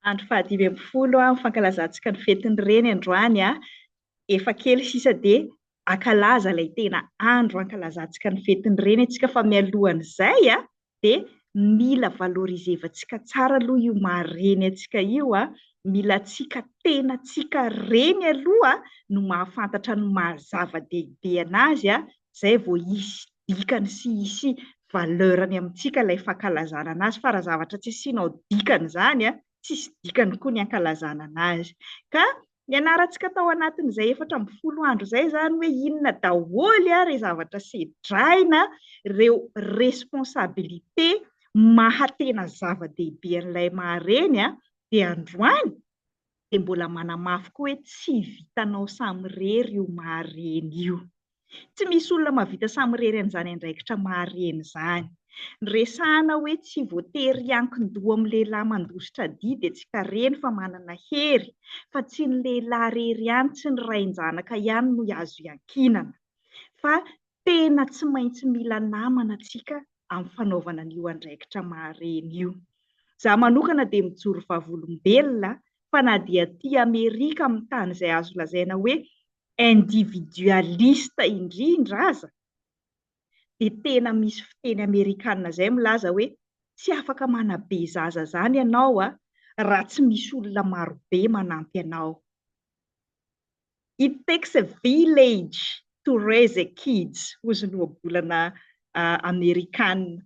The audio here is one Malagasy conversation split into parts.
Andro faha dimy ambin'ny folo ny fankalazantsika ny fetin'ny reny androany, efa kely sisa dia hankalaza ilay tena andro hankalazantsika ny fetin'ny reny isika fa mialohan'izay dia mila valorisevantsika tsara aloha io maha reny antsika io, mila antsika tena antsika reny aloha no mahafantatra ny maha zava-dehibe an'azy izay vao hisy dikany sy hisy valeur-ny amintsika ilay fankalazana an'azy fa raha zavatra tsy asianao dikany izany an, tsy hisy dikany koa ny hankalazana an'azy. Ka nianarantsika tao anatin'izay efatra ambin'ny folo andro izay izany hoe inona daholo ireo zavatra sedraina, ireo responsabilité maha tena zava-dehibe an'ilay maha-reny dia androany dia mbola manamafy koa hoe tsy vitanao samirery io maha-reny io. Tsy misy olona mahavita samirery an'izany andraikitra maha-reny izany. Ny resahana hoe tsy voatery hiankin-doha amin'ny lehilahy mandositra dia dia tsy ka reny fa manana hery, fa tsy ny lehilahy rery ihany, tsy ny rain-janaka ihany no azo iankinana, fa Tena tsy maintsy mila namana antsika amin'ny fanaovana an'io andraikitra maha-reny io. Izaho manokana dia mijoro vavolombelona fa na dia aty Amerika amin'ny tany izay azo lazaina hoe individualiste indrindra aza dia tena misy fiteny amerikana izay milaza hoe tsy afaka manabe zaza izany ianao raha tsy misy olona marobe manampy anao. It takes a village to raise a kids hozy ny ohabolana amerikana.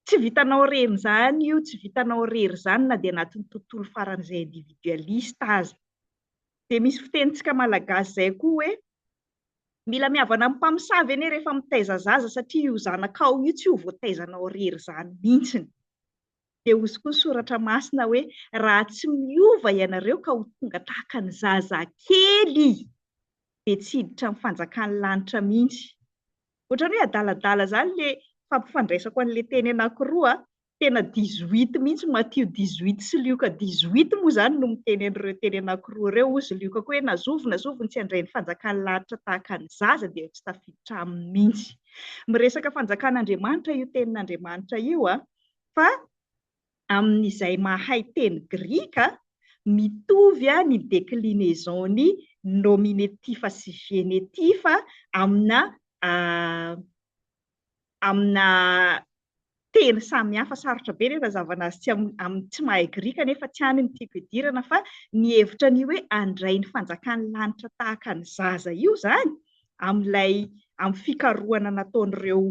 Tsy vitanao rery izany io, tsy vitanao rery izany na dia anatin'ny tontolo faran'izay individualiste aza. Dia misy fitenintsika malagasy izay koa hoe, mila mihavana amin'ny mpamosavy anie rehefa mitaiza zaza satria io zanakao io tsy ho voataizanao rery izany mihitsy. Dia hozy koa ny soratra masina hoe, raha tsy miova ianareo ka ho tonga tahaka ny zazakely, dia tsy hiditra ny fanjakan'ny lanitra mihitsy. Ohatran'ny hoe adaladala izany ilay fampifandraisako an'ilay teny anankiroa, tena dix-huit mihitsy, Matio dix-huit sy Lioka dix-huit moa izany no miteny an'ireo teny anankiroa ireo, hozy Lioka koa hoe, na zovy na zovy ny tsy handray ny fanjakan'ny lanitra tahaka ny zaza dia tsy tafiditra aminy mihitsy. Miresaka fanjakan'Andriamanitra io tenin'Andriamanitra io an! fa amin'izay mahay teny grika, mitovy ny declinaison-ny nominetifa sy genetifa amina amina teny samihafa. Sarotra be ny hanazavana azy tsy amin'ny tsy mahay grika nefa tsy any no tiako hidirana fa ny hevitra an'io hoe handray ny fanjakan'ny lanitra tahaka ny zaza io izany amin'ilay amin'ny fikarohana nataon'ireo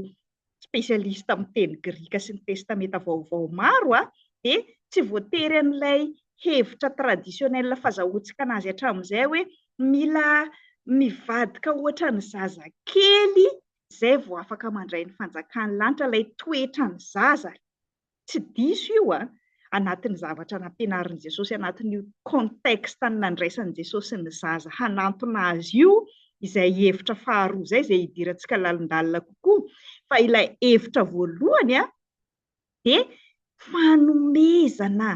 spécialiste amin'ny teny grika sy ny testamenta vaovao maro a, dia tsy voatery an'ilay hevitra traditionnel fazahoantsika anazy hatramin'izay hoe mila mivadika ohatran'ny zaza kely izay vao afaka mandray ny fanjakan'ny lanitra, ilay toetran'ny zaza. Tsy diso io a! Anatin'ny zavatra nampianarin'i Jesosy anatin'io contexte nandraisan'i Jesosy ny zaza hanantona azy io izay hevitra faharoa izay, izay hidirantsika lalindalina kokoa. Fa ilay hevitra voalohany a, dia fanomezana,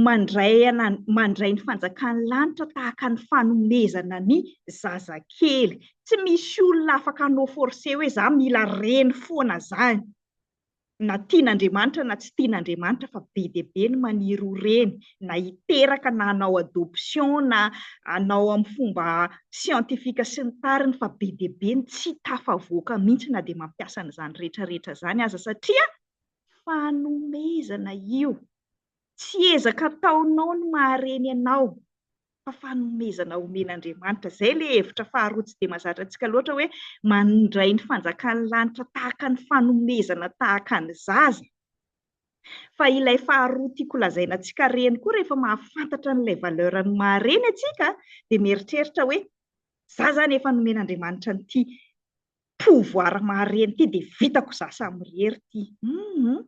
mandray ana, mandray ny fanjakan'ny lanitra tahaka ny fanomezana ny zazakely. Tsy misy olona afaka hanao forcer hoe za mila reny foana zany. na tian'Andriamanitra na tsy tian'Andriamanitra fa be dia be ny maniry ho reny na hiteraka na hanao adoption na hanao amin'ny fomba siantifika sy ny tariny fa be dia be ny tsy tafavoaka mihitsy na dia mampiasa an'izany rehetra rehetra izany aza satria fanomezana io tsy ezaka ataonao ny mahareny anao fa fanomezana omen'Andriamanitra. Izay ilay hevitra faharoa tsy dia mahazatra antsika loatra hoe mandray ny fanjakan'ny lanitra tahaka ny fanomezana tahaka ny zaza. Fa ilay faharoa tiako lazaina antsika reny koa rehefa mahafantatra an'ilay valeur ny mahareny antsika dia mieritreritra hoe za zany efa nomen'Andriamanitra an'ity pouvoir mahareny ity dia vitako za samy irery ity hum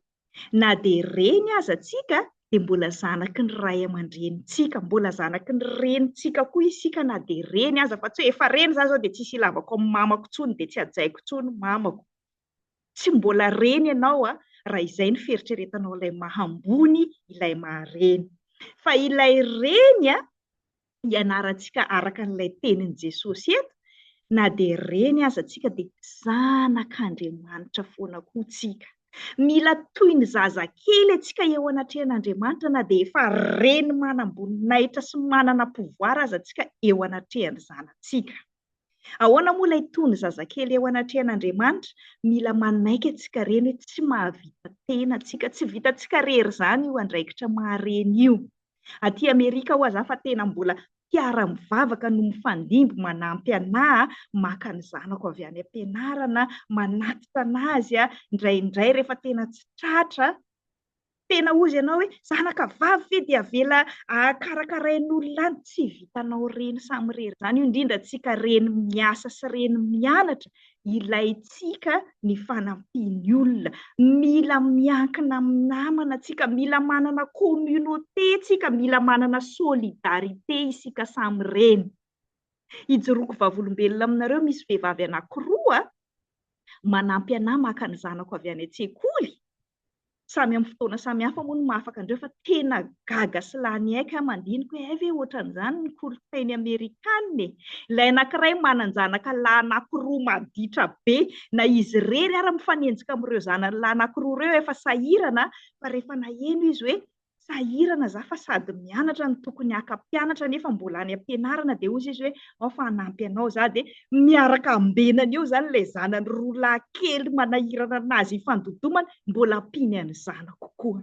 na dia reny aza tsika dia mbola zanaky ny ray aman-drenintsika mbola zanaky ny renintsika koa isika na dia reny aza fa tsy hoe efa reny za zao dia tsisy ilavako amin'ny mamako tsony dia tsy hajaiko tsony mamako tsy mbola reny ianao a raha izay ny fieritreretanao ilay maha ambony ilay maha reny fa ilay reny a ianarantsika araka an'ilay tenin'i Jesosy eto, na dia reny aza tsika dia zanak'Andriamanitra foana koa tsika. Mila toy ny zaza kely atsika eo anatrehan'Andriamanitra na dia efa reny manam-boninahitra sy manana pouvoir aza tsika eo anatrehan'ny zanatsika. Ahoana moa ilay toy ny zaza kely eo anatrehan'Andriamanitra? Mila manaiky atsika reny hoe tsy mahavita tena tsika, tsy vitatsika rery zany io andraikitra maha-reny io. Aty Amerika ho'a za fa tena mbola mpiara mivavaka no mifandimby manampy anà maka ny zanako avy any am-pianarana, manatitra an'azy a, indraindray rehefa tena tsy tratra, tena hozy anao hoe zanaka vavy ve dia avela karakarain'olona any, tsy vitanao reny samirery zany io indrindra antsika reny miasa sy reny mianatra ilaintsika ny fanampian'ny olona. Mila miankina amin'ny namana tsika, mila manana communauté tsika, mila manana solidarité isika samy reny. Ijoroako vavolombelona aminareo misy vehivavy anakiroa manampy anah maka ny zanako avy any an-tsekoly samy amin'ny fotoana samy hafa moa no mahafaka andreo fa tena gaga sy lany aika aho mandiniko hoe hay ve ohatran'izany ny kolontsainy amerikana e! ilay anankiray manan-janaka lahy anankiroa maditra be na izy irery ary mifanenjika amin'ireo zanany lahy anankiroa ireo efa sahirana fa rehefa naheno izy hoe sahirana za fa sady mianatra ny tokony haka mpianatra nefa mbola any ampianarana dia hoy sisy hoe ao fa hanampy anao za dia miaraka ambenany eo zany ilay zanany roa lahy kely manahirana anazy hifandodomana mbola ampiany any zanako koa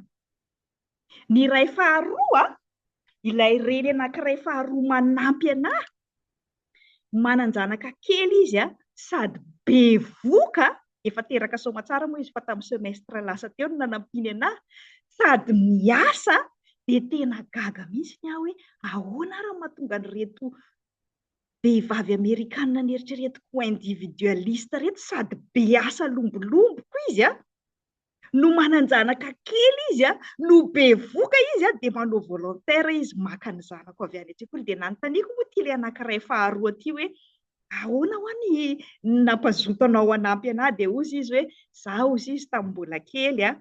ny iray faharoa ilay reny anankiray faharoa manampy anah Manan-janaka kely izy sady bevoka, efa teraka soamatsara moa izy fa tamin'ny semestre lasa teo no nanampiany ana, sady miasa, dia tena gaga mihitsy ny ahy hoe ahoana ary no mahatonga an'ireto vehivavy amerikana neritreretiko ho individualiste ireto sady be asa lombolomboka izy an! no manan-janaka kely izy a, no bevoka izy a, dia manao volontaire izy maka ny zanako avy any an-tsekoly. Dia nanontaniako moa ity ilay anankiray faharoa ity hoe, ahoana hoa ny nampazoto anao hanampy anah? Dia hozy izy hoe, za hozy izy tamin'ny mbola kely a,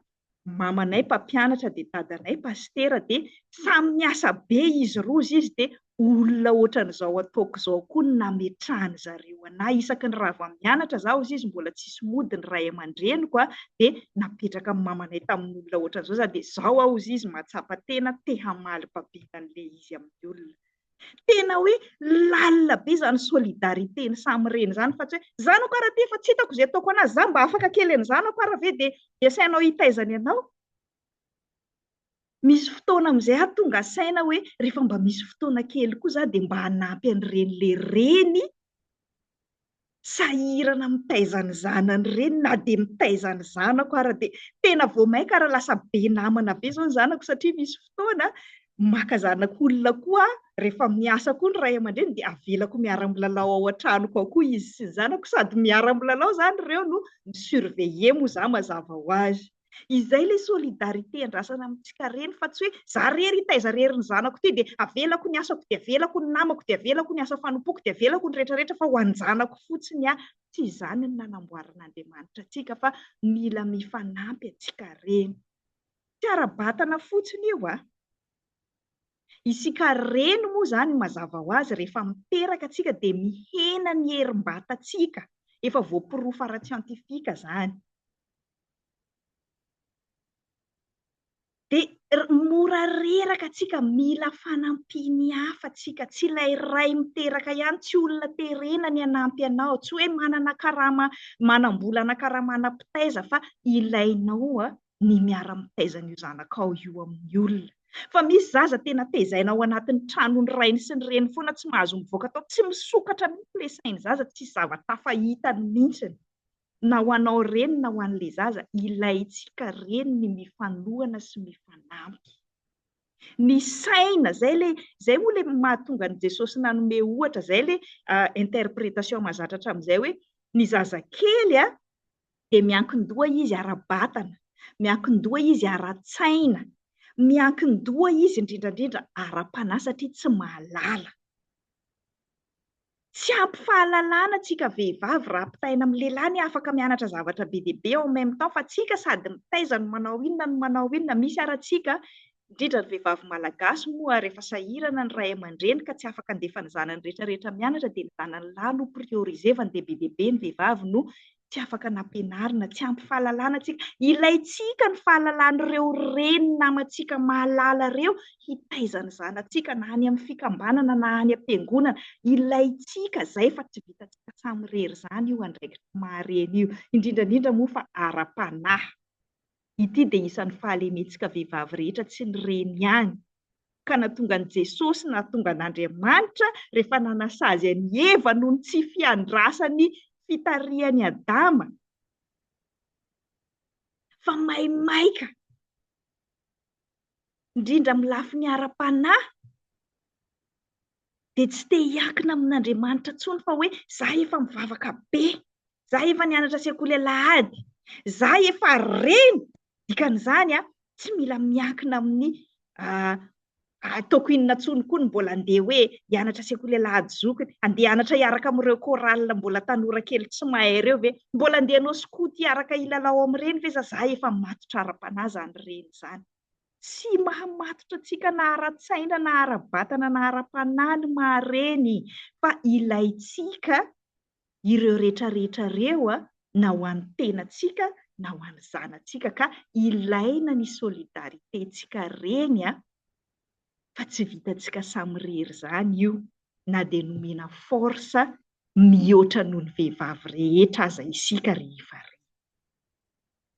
mamanay mpampianatra dia dadanay pasitera dia samy niasa be izy roa hozy izy dia olona ohatran'izao ataoko izao koa no nametrahan-dry zareo an'ahy. Isaky ny rava mianatra izaho, hoy izy, mbola tsisy mody ny ray aman-dreniko, dia napetraka ny mamanay tamin'olona ohatran'izao izaho, dia izao aho, hoy izy, mahatsapa tena te hamaly babena an'ilay izy amin'ny olona. Tena hoe lalina be izany solidarité-ny samy reny izany, fa tsy hoe, zanako ary aty efa tsy hitako izay ataoko an'azy, izaho mba afaka kely an'i zanako ary ve dia dia asainao hitaiza ny anao? Misy fotoana amin'izay aho tonga saina hoe rehefa mba misy fotoana kely koa za dia mba hanampy an'ireny le reny sahirana mitaiza ny zanany ireny na dia mitaiza ny zanako ara dia tena vao mainka ary lasa be namana be izao ny zanako satria misy fotoana maka zanak'olona koa aho rehefa miasa koa ny ray aman-dreny dia avelako miara-milalao ao an-tranoko ao koa izy sy ny zanako sady miara-milalao izany ireo no mi-surveiller moa za mazava ho azy. Izay ilay solidarité andrasana amintsika reny fa tsy hoe za rery hitaiza rery ny zanako ity dia avelako ny asako dia avelako ny namako dia avelako ny asa fanompoako dia avelako ny rehetra rehetra fa ho an-janako fotsiny aho. Tsy izany no nanamboaran'Andriamanitra antsika fa mila mifanampy antsika reny. Tsy ara-batana fotsiny io a! Isika reny moa izany mazava ho azy rehefa miteraka antsika dia mihena ny herim-batantsika, efa voaporofo ara-tsiantifika izany. Dia mora reraka tsika, mila fanampian'ny hafa tsika, tsy ilay ray miteraka ihany, tsy olona terena ny hanampy anao, tsy hoe manana karama manam-bola na karama ana mpitaiza fa ilainao ny miara mitaiza an'io zanakao io amin'ny olona. Fa misy zaza tena tezaina ao anatin'ny tranon'ny rainy sy ny reny foana, tsy mahazo mivoaka tao, tsy misokatra mihitsy ilay sain'ny zaza, tsy zava-tafa hitany mihitsy. na ho anao reny na ho an'ilay zaza, ilaintsika reny ny mifanohana sy mifanampy. Ny saina, izay ilay, izay moa ilay mahatonga an'i Jesosy nanome ohatra, izay ilay interpretation mahazatra hatramin'izay hoe, ny zazakely a, dia miankin-doha izy ara-batana, miankin-doha izy ara-tsaina, miankin-doha izy indrindra indrindra ara-panahy satria tsy mahalala. Tsy ampy fahalalana tsika vehivavy raha ampitaina amin'ny lehilahy ny afaka mianatra zavatra be dia be en même temps fa tsika sady mitaiza no manao inona no manao inona misy ara tsika indrindra ny vehivavy malagasy moa rehefa sahirana ny ray amandreny ka tsy afaka andefa ny zanany retraretra mianatra dia ny zanany lahy no priorisevany dia be dia be ny vehivavy no tsy afaka nampianarina, tsy ampy fahalalana antsika. Ilaintsika ny fahalalan'ireo reny namantsika mahalala ireo hitaiza ny zanatsika na any amin'ny fikambanana na any am-piangonana. Ilaintsika izay fa tsy vitantsika samirery izany io andraikitra maha-reny io, indrindra indrindra moa fa ara-panahy. Ity dia isan'ny fahalementsika vehivavy rehetra tsy ny reny ihany. Ka natongan'i Jesosy natongan'Andriamanitra rehefa nanasazy an'i Eva noho ny tsy fiandrasany fitarihan'i Adama fa maimaika indrindra amin'ny lafiny ara-panahy dia tsy te hiankina amin'Andriamanitra intsony fa hoe za efa mivavaka be, za efa nianatra sekoly alahady, za efa reny, dikan'izany a, tsy mila miankina amin'ny ataoko inona intsony koa ny mbola andeha hoe hianatra sekoly alahady zokiny, andeha hianatra hiaraka amin'ireo chorale mbola tanora kely tsy mahay ireo ve, mbola andeha hanao scout hiaraka hilalao amin'ireny ve za, za efa matotra ara-panahy izany reny izany. Tsy mahamatotra antsika na ara-tsaina na ara-batana na ara-panahy ny maha-reny fa ilaintsika ireo retraretra ireo na ho an'ny tenantsika na ho an'ny zanatsika ka ilaina ny solidarité-ntsika reny fa tsy vitantsika samirery izany io na dia nomena force mihoatra noho ny vehivavy rehetra aza isika rehefa reny.